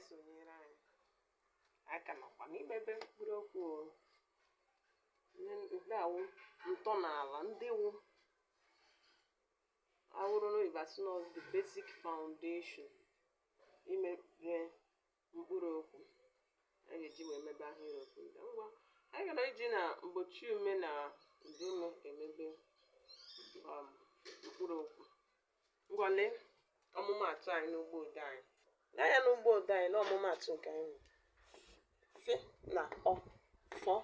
so enyere anyị aka nakwa n'imebe mkpụrụ okwu o. Ihe ndị a wụ ntọala ndị wụ ọ wụrụ n'oyibo a sị na ọ bụ the basic foundation imebe mkpụrụ okwu a ga-eji wee mebe ahịrịokwu ndị a. ngwa anyị gaa n'iji na mgbochi ume na ụdaume emebe um, mkpụrụ okwu Ngwa lee ọmụmaatụ anyị n'ugbo ode anyị. Lee anya n'ugbo ode anyị n'ọmụmaatụ nke anyị nwere. Fị na ọ fọ.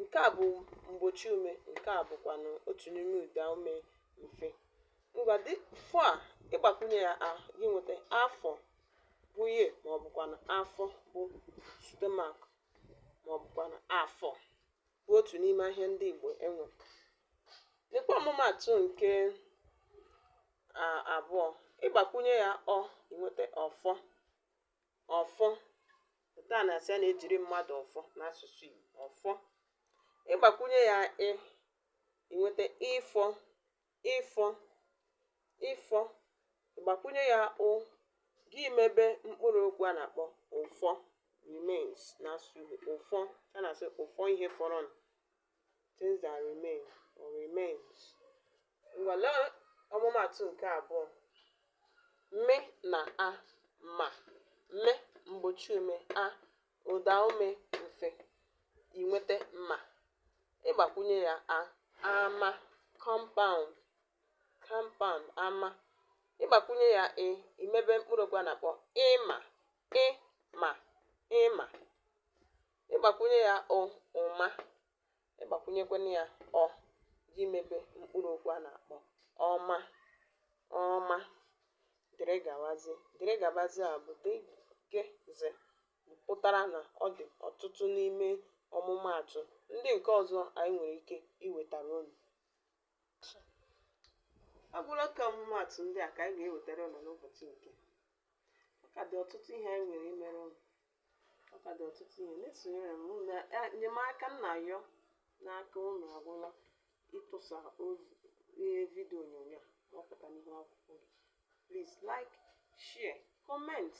Nke a bụ mgbochi ume, nke a bụkwanụ otu n'ime ụda ume mfe. Ngwa dị fọ a ị gbakwunye ya a gị nweta afọ bụ year ma ọ bụkwanụ afọ bụ stomach ma ọ bụkwanụ afọ. bụ otu n'ime ahịa ndị Igbo e nwere. Lekwa ọmụmaatụ nke abụọ. Ị gbakwụnye ya ọ, i nweta ọfọ. Ọfọ. Nke a na-asị a na-ejiri mmadụ ọfọ n'asụsụ Igbo. Ọfọ. Ị gbakwụnye ya ị, i nweta ịfọ. ịfọ, ịfọ, ị gbakwụnye ya ụ, gị mebe mkpụrụ okwu a na-akpọ ụfọ remains n'asụsụ Igbo. Ụfọ, a na-asị ụfọ ihe fọrọnụ, things that remain or remains. Ngwa lee ọmụmaatụ nke abụọ. Mị na a ma, mị mgbochiume, a Ụdaume mfe i nweta ma, ị gbakwunye ya a. Ama, compound, compound, ama. Ị gbakwunye ya ị, i mebe mkpụrụokwu a na-akpọ ịma, ị ma, ịma. Ị gbakwunye ya ụ, ụma. ị gbakwụnyekwana ya ọ gị mebe mkpụrụ okwu a na-akpọ ọma ọma dịrị gawazi dịrị gabazi a bụ dgz pụtara na ọ dị ọtụtụ n'ime ọmụmaatụ ndị nke ọzọ anyị nwere ike iwetara unu ọ bụrụ ka ọmụmaatụ ndị a ka anyị ga-ewetara unu n'ụbọchị nke a ọ ka dị ọtụtụ ihe anyị nwere imere unu ọ ka dị ọtụtụ ihe na-esonyere m unu na- a- enyemaka m na-ayọ n'aka unu agwụla ịtụsa ozi ihe vidio onyonyo a wepụta n'ihu akwụkwọ gị please like share comment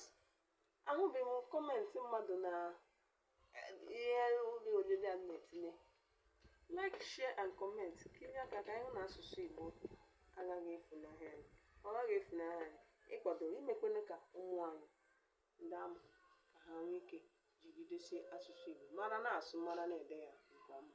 ahụbeghị m comment mmadụ na eh, ihe ụlọ onyonyo a na-etinye like share and comment ka i nye aka ka anyị hụ na asụsụ igbo agaghị efunahụ anyị ọ gaghị efunahụ anyị ịkwado imekwene ka ụmụ anyị ndị a mụrụ ka ha nwee ike jigidesie asụsụ Igbo mara na-asụ mara na-ede ya nke ọma